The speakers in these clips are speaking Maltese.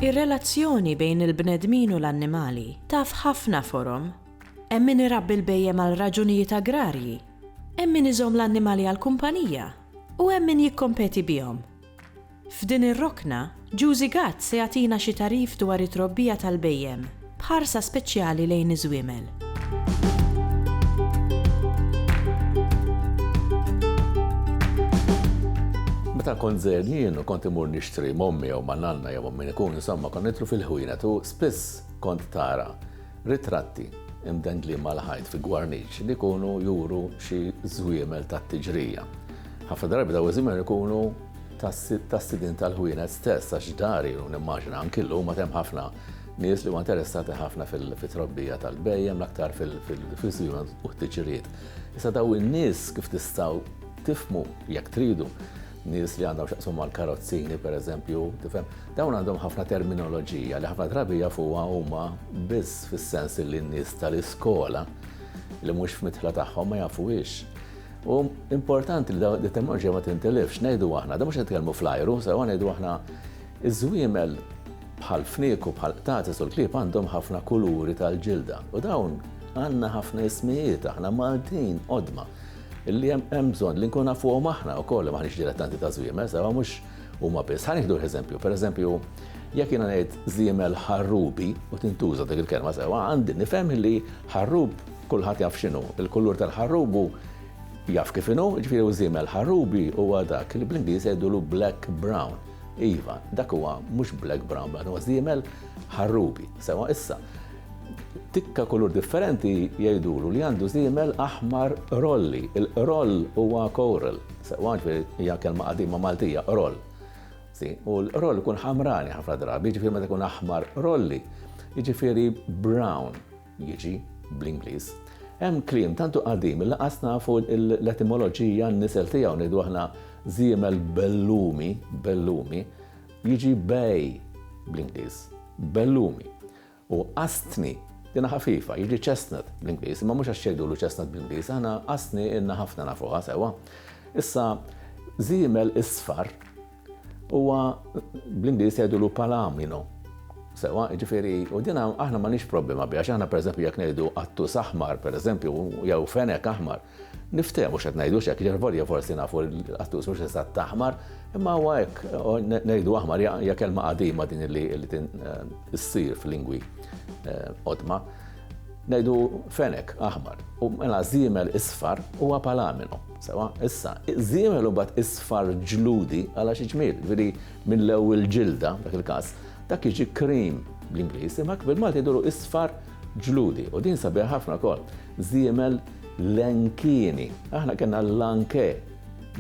Ir-relazzjoni bejn il-bnedmin u l-annimali taf ħafna forom. Hemm min irabbi l-bhejjem għal raġunijiet agrarji, hemm min iżomm l-annimali għall-kumpanija, u hemm min jikkompeti bihom. F'din ir-rokna, Juzi Gatt se jagħtina xi tagħrif dwar it-trobbija tal-bhejjem, b'ħarsa speċjali lejn iż-żwiemel. Meta kont żgħir jien u kont imur nixtri m'ommi jew ma' nanna jew ma' min ikun insomma konna nidħlu fil-ħwienet u spiss kont tara ritratti imdendlin mal-ħajt fi gwarniċ li jkunu juru xi żwiemel tat-tiġrija. Ħafna drabi dawn iż-żmien ikunu tas-sidien tal-ħwienet stess għax dari u nimmaġina anki llum għad hemm ħafna nies li huma interessati ħafna fit-trobbija tal-bhejjem l-aktar fil-fizjun u t-tiġriet. Issa daw in-nies kif tistgħu tifmu jekk tridu nies li għandhom xaqsum mal karozzini per eżempju, tifhem, dawn għandhom ħafna terminoloġija li ħafna drabi jafuha huma biss fis-sens li n-nies tal-iskola li mhux f'mitħla tagħhom ma jafuhiex. U importanti li dawn it-teknoloġija ma tintilifx, ngħidu aħna, da mhux qed nitkellmu fl-ajru, sewa ngħidu aħna iż-żwiemel bħal fniek u bħal qtatis u l-klieb għandhom ħafna kuluri tal-ġilda. U dawn għandna ħafna ismijiet aħna Maltin qodma illi hemm bżonn li nkun nafuhom aħna wkoll ma ħniex dilettanti ta' żwiemel, sewa mhux huma biss. Ħa nieħdu eżempju, pereżempju, jekk jiena ngħid żiemel ħarrubi u tintuża dik il-kelma sewa, għandi nifhem li ħarrub kulħadd jaf x'inhu. Il-kulur tal-ħarrub hu jaf kif inhu, jiġifieri hu żiemel. Ħarrubi huwa dak li bl-Ingliż jgħidulu black brown. Iva, dak huwa mhux black brown, dan huwa żiemel ħarrubi. Sewa issa, tikka kulur differenti jgħidulu li għandu żiemel aħmar rolli. Il-roll huwa coral, sewa ġifieri hija kelma qadima Maltija, roll. U l-roll ikun ħamrani ħafna drabi, jiġifieri meta jkun aħmar rolli, jiġifieri brown. jiġi, bl-Ingliż. Hemm kliem tantu qadim li lanqas nafu l-etimoloġija, n-nisel tiegħu, ngħidu aħna żiemel bellumi, bellumi, jiġi bay, bl-Ingliż, bellumi. U qastni, dinha ħafifa, jiġi chestnut, bl-Ingliż, imma mhux għax jgħidulu chestnut bl-Ingliż, aħna qastni ilna ħafna nafuha sewwa. Issa, żiemel isfar, Huwa bl-Ingliż jgħidulu palamino. Sewwa, jiġifieri, u din aħna m'għandniex problema biha, għax aħna pereżempju jekk ngħidu qattus aħmar pereżempju jew fenek aħmar, niftehmu x'qed ngħidu x'hekk, jiġifieri volja forsi nafu l-qattus mhux eżatt aħmar, imma huwa hekk ngħidu aħmar hija kelma qadima din li ssir f'lingwi qodma. Ngħidu fenek aħmar, u mela żiemel isfar huwa palamino. Sewa, issa, iżiemel u mbagħad isfar ġludi għala xi ġmiel, jiġifieri mill-ewwel ġilda, f'dak il-każ, dak jiġi cream bl-Ingliż, imma hekk bil-Malti jidhru isfar ġludi. U din sabiħa ħafna wkoll, żiemel lenkini. Aħna kellna l-lanke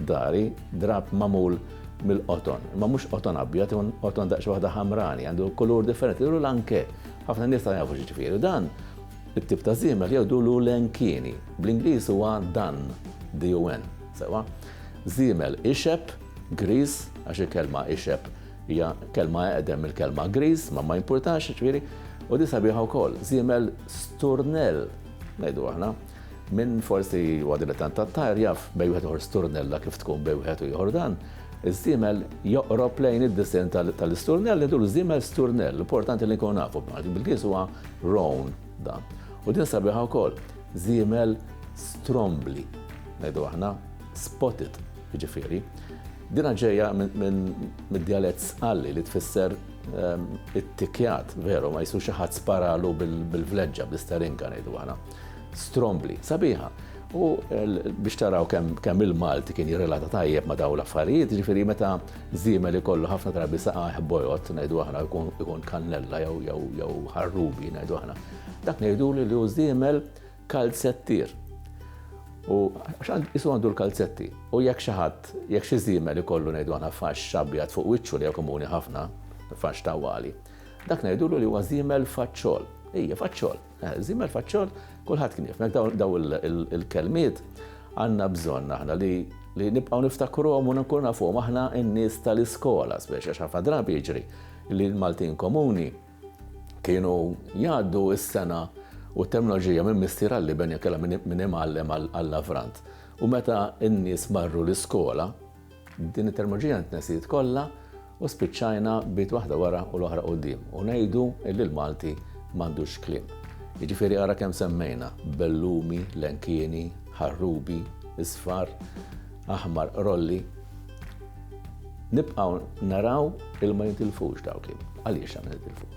dari, drab magħmul mill-qoton, imma mhux qoton abjad, imma qoton daqsxejn waħda ħamrani, għandu kulur differenti, jidhru lanke. Ħafna nies ma jafux x'jiġifieri dan. It-tip ta' żiemel jgħidulu l-enkieni. Bl-Ingliż huwa dun, D-U-N, sewwa. Żiemel ixeb, griż, għax il-kelma ixeb hija kelma eqdem mill-kelma griż, ma ma jimpurtax, jiġifieri, u din sabiħa wkoll, żiemel sturnell, ngħidu aħna. Min forsi huwa dilettant tat-tajr jaf bejn wieħed ieħor sturnella kif tkun bejn wieħed u ieħor dan. Iż-żiemel joqrob lejn id-disinn tal-isturnell, ngħidulu żiemel sturnell, importanti li nkunu nafu. Bil-Ingliż huwa Roan dan. U din sabiħa wkoll, żiemel Strombli, ngħidu aħna, spotted, jiġifieri. Dinha ġejja mid-djalett Sqalli li tfisser ehm, it-tikjat, veru, ma jisu xi ħadd sparalu bil-vleġġa, bl-isterinka ngħidu aħna. Strombli, sabiħa. U biex taraw kemm il-Malti kien jirrelata tajjeb ma daw l-affarijiet, ġifiri meta Żiemel ikollu ħafna drabi saqajh bojod, ngħidu aħna, ikun kannella jew ħarrubi, ngħidu aħna. Dak ngħiduli li hu żiemel kalzettier. U għax isu għandu l-kalzetti. U jekk xi ħadd, jekk xi żiemel ikollu ngħidu aħna faxx xabjat fuq wiċċu li komuni ħafna, faxx tawali. Dak ngħidulu li huwa żiemel faċċol. Ija, faċċol. Zimmer faċċol, kulħadd kien jifmek daw il-kelmiet għandna bżonn aħna li li nibqgħu niftakruhom u nkunu nafuhom aħna n-nies tal-iskola, speċi għax ħafna drabi jiġri li l-Maltin komuni kienu jgħaddu s-sena u t-terminoloġija minn mistier għalli ben jekela minn imgħallem għall-lavrant. U meta n-nies marru l-iskola, Din it-termoloġija ntnesiet kollha u spiċċajna b'ied waħda wara u l-oħra quddiem u ngħidu li l-Malti m'għandux kliem. Jiġifieri ara kemm semmejna, bellumi, lenkieni, ħarrubi, isfar, aħmar, rolli. Nibqgħu naraw il ma jintilfux daw kliem. Għaliex għandna nitilfu?